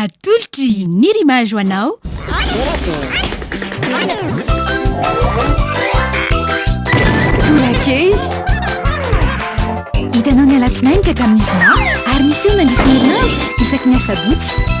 Atolotry ny rimage ho anao. Torakely. Hitanao ny alatsinainy ka hatramin'ny zoma ary miseho mandritra ny herinandro isaky ny asabotsy.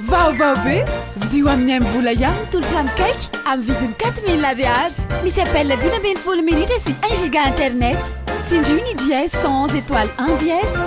Vaovao be! Vidio amin'ny Mvola ihany ny tolotrano kaiky amin'ny vidiny quatre mille ariary. Misy appel dimy ambin'ny folo minitra sy un giga internet. Tsindrio ny dièse cent onze étoile un dièse.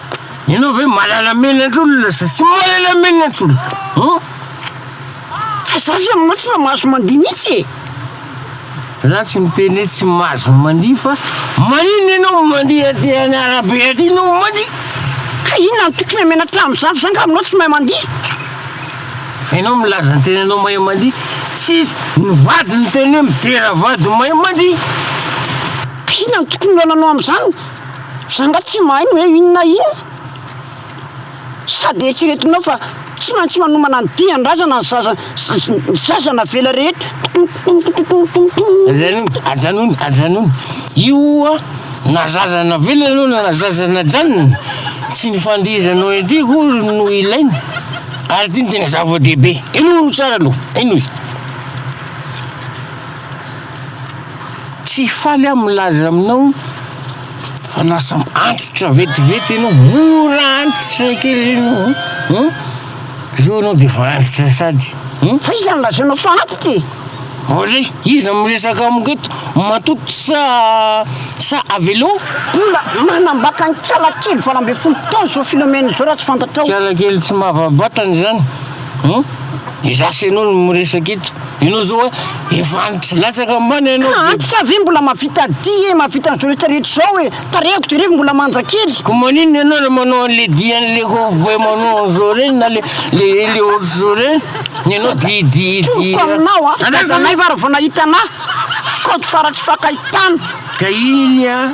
Ianao ve malala menandr'olona sa tsy malala menandr'olona um? Fa za ve aminao tsy mba mahazo mandihy mihitsy e! Za tsy miteny hoe tsy mahazo mandihy fa maninona ianao mandihy aty any arabe aty ianao mandihy? Ka inona no tokony hamenatra amin'izany fa za angaha aminao tsy mahay mandihy? Fa ianao milaza ny tenanao mahay mandihy, tsisy ny vady niteny hoe midera vady mahay mandihy. Ka inona no tokony ho ananao amin'izany? Za nga tsy mahay ny hoe inona na inona? Sady eritreretinao fa tsy maintsy manomana ny dian-drazana ny zaza ny zaza navela rehetra Tontontontontontonton. Ajanony, ajanony, ajanony. Io na zaza navela aloha na zaza najanona, tsy ny fandihizanao ety akory no ilaina, ary ity no tena zava-dehibe. Henoy tsara aloha, henoy. Tsy faly aho milaza aminao fa lasa antitra vetivety enao, mora antitra kely enao an! An! Zao enao de efa antitra sady an! Fa iza no lazainao fa antitra e? Ary iza no miresaka amiko eto, matoa sa sa avelao? Mbola manambaka ny kialakely valo ambin'ny folo taona zao Philomène zao raha tsy fantatrao. Kialakely tsy mahavaha-batana izany. Hum? Iza sy ianao no miresaka eto? Ianao izao a, efa antitra latsaka ambany ianao. Ka antitra ve mbola mahavita dihy e, mahavita an'izao rehetra rehetra izao e, tarehiko jereo fa mbola manja kely. Ko maninona ianao le manao an'le dihy an'le cowboy manao an'izao ireny na le le le ohatr'izao ireny? Ny anao dihy dihy dihy. Tiko aminao a, aiza anay va raha vao nahita anah? Code fara tsy fakahitana. Ka iny a.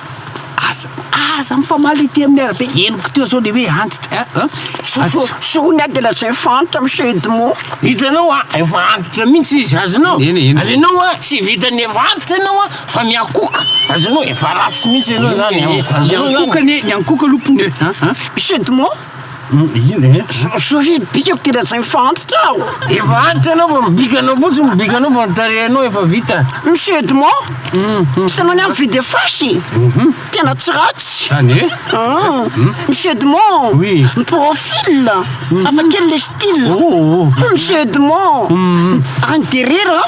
Aza aza mifamaly ety amin'ny arabe. Henoko teo zao le hoe antitra a a. Aza. Sonia de lazay fa antitra Monsieur Edmond. Hitanao a, efa antitra mihitsy izy, azonao? Eny, eny. Azonao a, tsy vitan'ny efa antitra ianao a, fa miankohoka, azonao? Efa ratsy mihitsy ianao zany e. Azonao zany? Miankohoka anie, miankohoka aloha pneu a a. Monsieur Edmond, Ino e? Sory bikako tena tsy mifa antitra aho. Efa antitra ianao fa mibika anao fotsiny mibika anao fa ny tarehinao efa vita. Monsieur Edmond, tsy itanao ny ahy mividy efasy? Tena tsy ratsy. Zany e? Ah, Monsieur Edmond, Oui. ny profil, hafa kely le style. Oh, oh. Monsieur Edmond, any derera.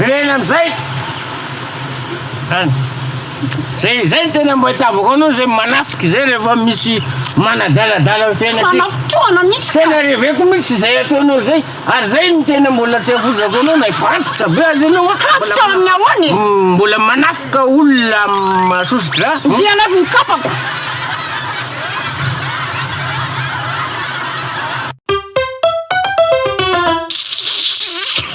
Ilaina amin'izay zany. Zay izay no tena mba itiavako anao zay manafika izay rehefa misy manadaladala ny fiainantsika. Fanafitohana mihitsy ka. Tena reveko mihitsy izay ataonao zay ary zay no tena mbola tsy avozako anao na efa antitra be aza ianao a. Antitra amin'ny ahoana e? Mbola manafika olona amin'ny soso-drà. Dia alaivo ny kapako.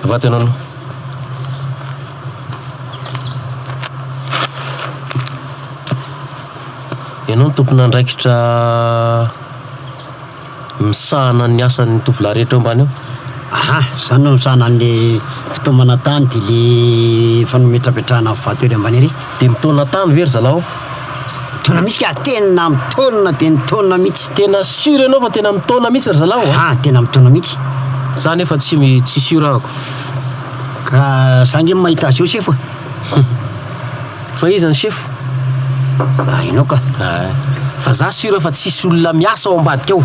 Vatanana. Ianao no tompon'andraikitra misahana ny asan'ny tovolahy rehetra eo ambany eo? Aha, za no misahana an'le fitaomana tany de le fanometrapetrahana vato ery ambany ery. De mitaona tany ve ry zalaho? Tonamika tena mitaona dia nitaona mitsy. Tena sur enao fa tena mitaona mitsy ry zalahy ô. Ah tena mitaona mitsy. Za nefa tsy tsy sur ako. Ka za nge mahita azy eo sefo a. Fa iza ny sefo? Ah enao ka. Ah fa za sur fa tsisy olona miasa ao ambadika ao.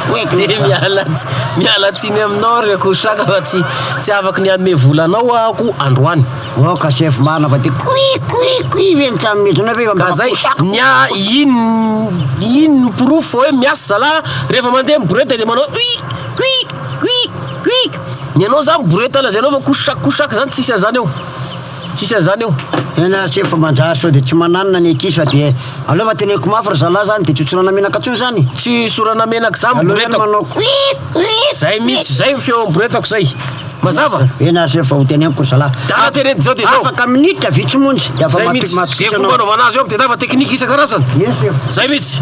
Dia miala miala tsiny aminao ry akoho saka fa tsy tsy afaka ny hanome vola anao aho ko androany. Oh ka chef marina fa dia kui kui kui ve ny trano mihitsy nareo eo Ka zay, ny a in in no porofo fa hoe miasa zalahy rehefa mandeha ny borety dia manao ui kui kui kui ny anao zany borety lazainao fa ko saka ko saka zany tsisy anzany eo. Tsisy an'izany eo. Eny ary tseky fa manjary sao dia tsy mananina ny akia sao dia aleo fa teneniko mafy ry zalahy zany dia tsy ho tsorana menaka tsony zany e! Tsy sorana menaka zany boretako. Aleo zany manao kuiip kuiip. Zay mitsy zay ny feon'ny boretako zay. Mazava? Eny ary tseky fa ho teneniko ry zalahy. Dala tena edy zao dia zao. Afaka minitra vitsy monja dia afa matoky anao. Zay mitsy. Ze fomba anaovana azy eo dia anaova teknika isan-karazany. Eny sefo. Zay mitsy.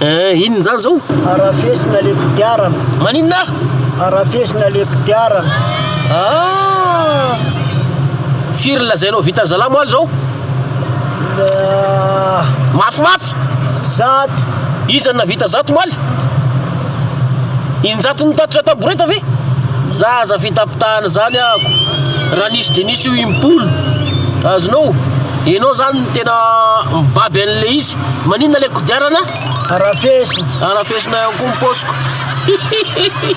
Eh, inona izany zao? Arafesina le kodiarana. Maninona? Arafesina le kodiarana. Ah! Firy lazainao vita zalahy moaly zao? Mafimafy. Zato! Iza no nahavita zato omaly? Injato nitatitra taboreta ve? Za aza fitapitahana zany ahako raha nisy de nisy io impolo azonao enao zany no tena mibaby anle izy maninona le kodiarana arafesina arafesina ihany koa ny paosiko hihihihi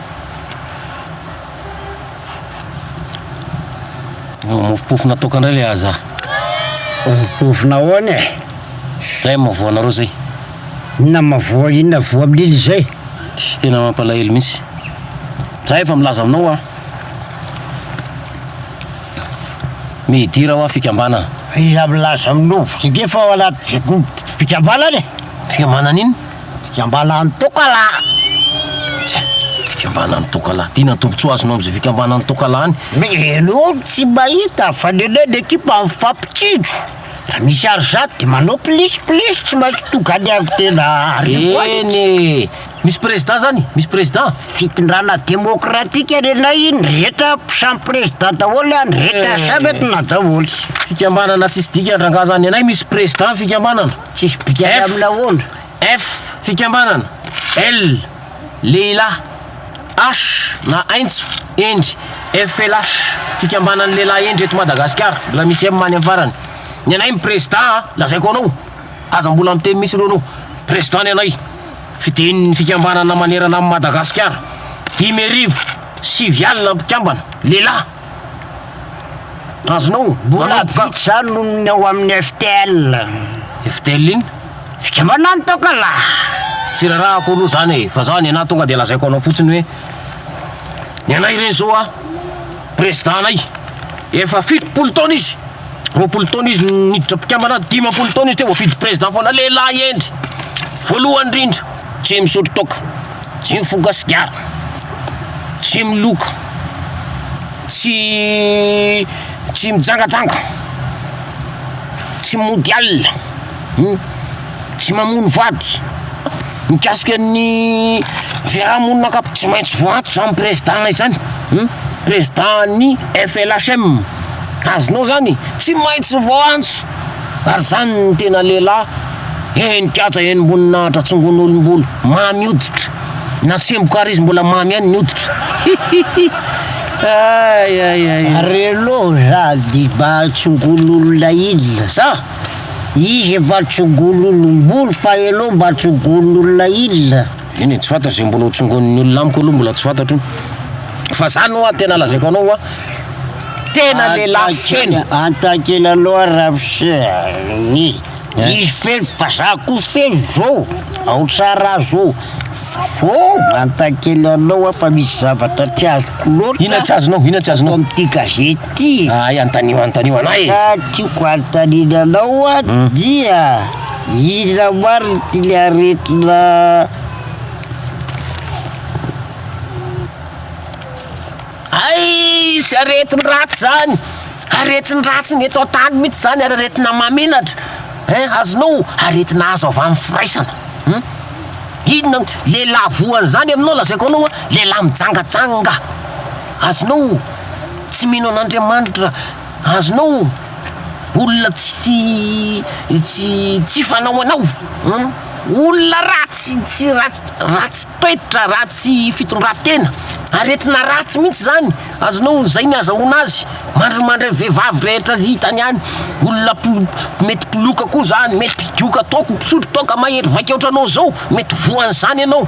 Mofopofona toaka indray ilay aza. Mofopofona ahoana e? Ilay amin'ny voanareo izay. Inona amin'ny voa, inona voa milily izay? Tena mampalahelo mihitsy. Za efa milaza aminao hoa. Midira hoa fikambanana. Iza milaza aminao? Efa ao anaty fikambanana e! Fikambanana inona? Fikambanan'ny Tokalahy! Tsia! Fikambanan'ny Tokalahy! Ty na tombotsoa azonao amin'izay fikambanan'ny Tokalahy any? Mialoha ny tsy mahita fa ny anay ny ekipa mifampitsinjo. Raha misy harizato dia manao plis plis tsy maintsy tonga any avy tena arivo any. Eny e! Misy prezidà zany? Misy prezidà? Fitondrana demokratika ny anay, ny rehetra samy prezidà daholo an, ny rehetra samy entina daholo. Fikambanana tsisy dikany rangahy zany! Ny anay misy prezidà ny fikambanana. Tsisy bikany amin'ny laonda. F, Fikambanana. L, Lehilahy. H, na aintso, hendry. FLH, Fikambanan'ny lehilahy hendry eto Madagasikara. Mbola misy M any amin'ny farany. Ny anay ny prezidà an, lazaiko anao, aza mbola miteny mihitsy aloha anao. Prezidà ny anay. Fidian'ny fikambanana manerana an'i Madagasikara. Dimy arivo, sivy alina mpikambana, lehilahy. Azonao? Mbola vitsy zany no ny ao amin'ny FTL. FTL inn? Fikambanana ny toaka lah! Tsy rarahako aloha zany e, fa zah ny anah tonga dia lazaiko anao fotsiny hoe ny anay re zao a, president-nay efa fitopolo taona izy, Roapolo taona izy no niditra mpikambana, dimampolo taona izy teo voafidy Président foana, lehilahy hendry, voalohany indrindra, tsy misotro toaka, tsy mifoka sigara, tsy miloka, tsy tsy mijangajanga, tsy mody alina. Humm. Tsy mamono vady. Mikasika ny fiarahamonina ankapobeny tsy maintsy voantso izany prezidà izany. Humm. Prezidàn'ny FLHM. Azonao izany? Tsy maintsy voantso. Ary izany no tena lehilahy henon-kaja henom-boninahitra tsongon'olom-bolo mamy hoditra. Na tsemboka àry izy mbola mamy ihany ny hoditra. Hihihi. Ay ay ay. Ary ianao sady mba tsongon'olona inona sa? Izy efa tsongon'olom-bolo fa ianao mba tsongon'olona inona? Eny e, tsy fantatro izay mbola ho tsongonin'ny olona amiko aloha mbola tsy fantatro fa zany hoa tena lazaiko anao hoa tena lehilahy feno. Antakely aloha Ramose a, izy feno fa za koa feno zao, ao tsara raha zao, zao Antakely anao hoa fa misy zavatra tsy azoko loatra, inona tsy azonao, inona tsy azonao, ato amin'ity gazety. ty. Hay antanio antanio anah e. Ka tiako anontaniana anao dia inona marina ty le aretina Hay tsy aretin-dratsy zany, aretin-dratsy ny eto an-tany mihitsy zany ary aretina maminatra ein azonao aretina azo avy amin'ny firaisana hum inona lehilahy voa an'izany aminao lazaiko anao lehilahy mijangajanga. Azonao tsy mino an'Andriamanitra, azonao olona tsy tsy tsy hifanao anao, humm olona ratsy tsy ratsy ratsy toetra, ratsy fitondran-tena, aretina ratsy mihitsy zany, azonao zay ny azahoana azy, mandrimandry vehivavy rehetra hitany any, olona polo mety mpoloka koa zany, mety mpidioka toaka, mpisotro toaka, mahery vaika otranao zao, mety voan'izany ianao.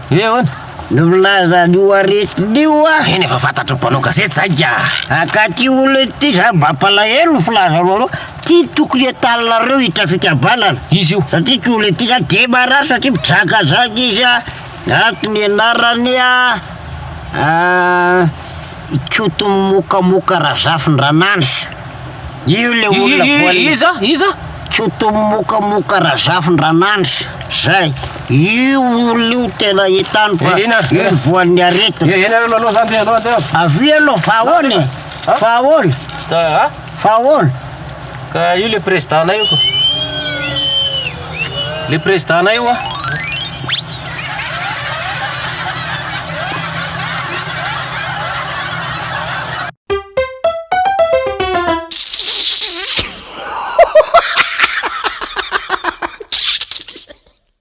He ahoana? Ny milaza an'io aretina io a! Eny efa fantatry ny mpanao gazety izay ka! Ankaty olona ity izany mampalahelo ny filazanao anao ty tokony hatalinareo hiditra fikambanana Izy io. satria ty olona ity izany dia marary satria mijangajanga izy a! Ato ny anarany a! Ikoto mimokamoka Razafindranandrisa io le olona voan'ny. Iza? Iza? Ikoto mimokamoka Razafindranandrisa zay io olona io tena hitany fa io ny voan'ny aretina. Eny aloha aloha zany dia aloha dia. Avia aloha fa ahoana e? Fa ahoana? Fa ahoana? Ka io le président nay io ko. Le président nay io a.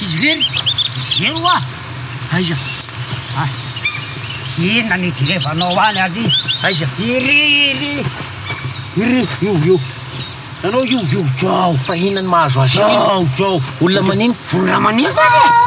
Izy irery? Izy ireo oa? Aiza? Ay! Inona ny hijerevanao any ary? Aiza? Iry! Iry! Iry! Io! Io! Ianao io! Io! Zao! Fa inona ny mahazo azy io? Zao! Zao! Olona manino? Olona manino zany e!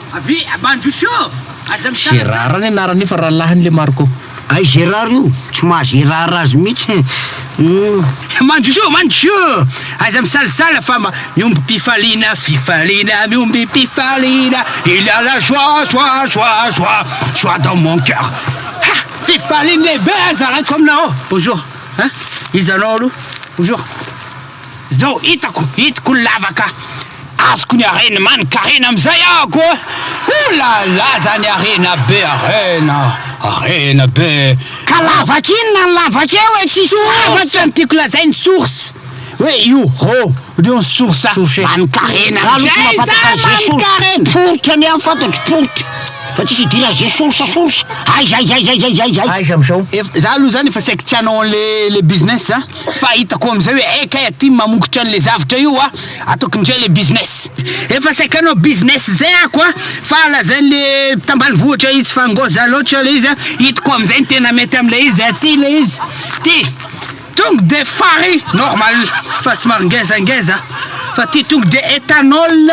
Gerara ny anarany io fa rahalahiny le Marco. Ay Gerard io tsy mahazo hiraharaha azy mihitsy eh. Mandrosoa mandrosoa aza misalasala fa mihomby mpifaliana fifaliana mihomby mpifaliana il y a la joie joie joie joie joie dans mon cœur ha fifaliana lehibe zarako aminao bonjour hein iza anao aloha bonjour Zao hitako hitako ny lavaka azoko ny harena manin karena amizay ako a! Ouh la la zany harena be harena harena be Ka lavaka inona ny lavaka eo e tsy source? Ny tiako lazainy source hoe io hô reo ny source manin karena amizay zany manin karena! Poritra ny ahy ny fantatro poritra. Fa tsisy idiran'i Zay source source aiza aiza aiza aiza aiza aiza. Aiza amizao? Ef, za aloha zany efa saiky tsy hanao anle le business za fa hitako amizay hoe eh kay aty mamongotra anle zavatra io a ataoko indray le business. Efa saiky hanao business zay ako a fa lazainle tambanivohitra itsy fa ngôza lôtra le izy a hitako amizay ny tena mety amle izy aty le izy ty. Tongue de fary normal fa somary ngeza ngeza fa ty tongue de ethanol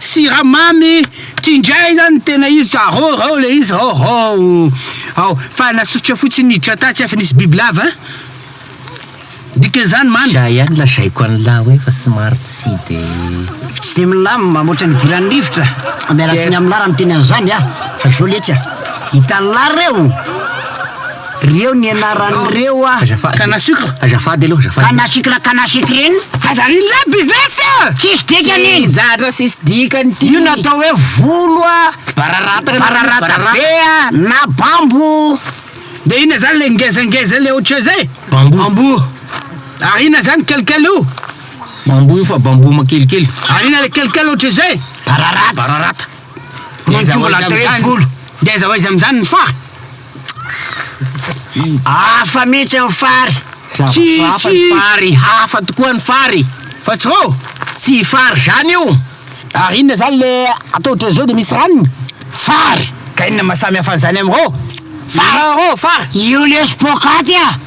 siramamy ty ndray zany tena izy ka rô rô le izy rô rô ao fa nasosotra fotsiny niditra tany tsy efa nisy bibilava dikan'izany mamy Za ihany lazaiko an'lah hoe fa somary tsy de Tsy dia milamina mamoatra ny idiran'ny rivotra. Miala tsiny amin'lah raha miteny an'izany aho fa izao letsy a. Hitan'lah reo! Reo ny anarany reo a. Azafady. Kanasukra. Azafady aloha azafady. Kanasukra kanasukrin. Aza iny lay business a! Tsisy dikany iny. Zatra tsisy dikany ity. Io natao hoe volo a. Bararata. Bararata be a na bambo. De ina zany le ngezangeza le ohatry zay? Bambou. Bambou. Ary ina zany kelikely io? Bambou io fa bambou makelikely. Ary ina le kelikely ohatry zay? Bararata. Bararata. Ngeza ho aiza amizany? Ngeza ho aiza amizany ny fary? Hafa mihitsy ny fary! Tsy hafa ny fary, hafa tokoa ny fary fa tsy hoo! Tsy fary zany io! Ary inona zany le atao otrany zao de misy ranony? Fary! Ka inona maha samy hafa an'izany amin'ireo? Fary! Io lesy poakaty a!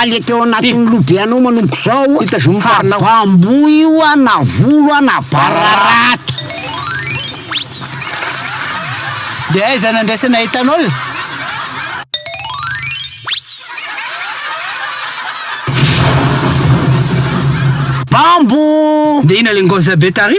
Alika teo anatin'ny lobe anao manomboka izao fa bamboa io a na volo a na bararata. Dia aiza no andraisana etanol? Bamboo! Dia inona ilay ngozabe tary?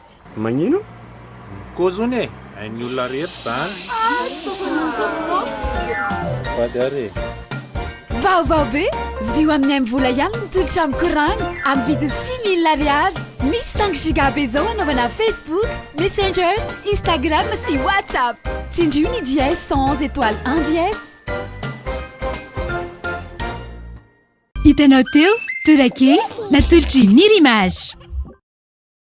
Magnino? Koa zony e! Hain'ny olona rehetra izany! Vady ary e! Vaovao be! Vidio amin'ny M vola ihany ny tolotra amin'ny koragna amin'ny vidiny six mille ariary. Misy cinq giga be izao hanaovana Facebook, Messenger, Instagram sy WhatsApp. Tsindrio ny dièse cent onze étoile un dièse. Hitanao teo, Tora kely, natolotr'i Nir'Image.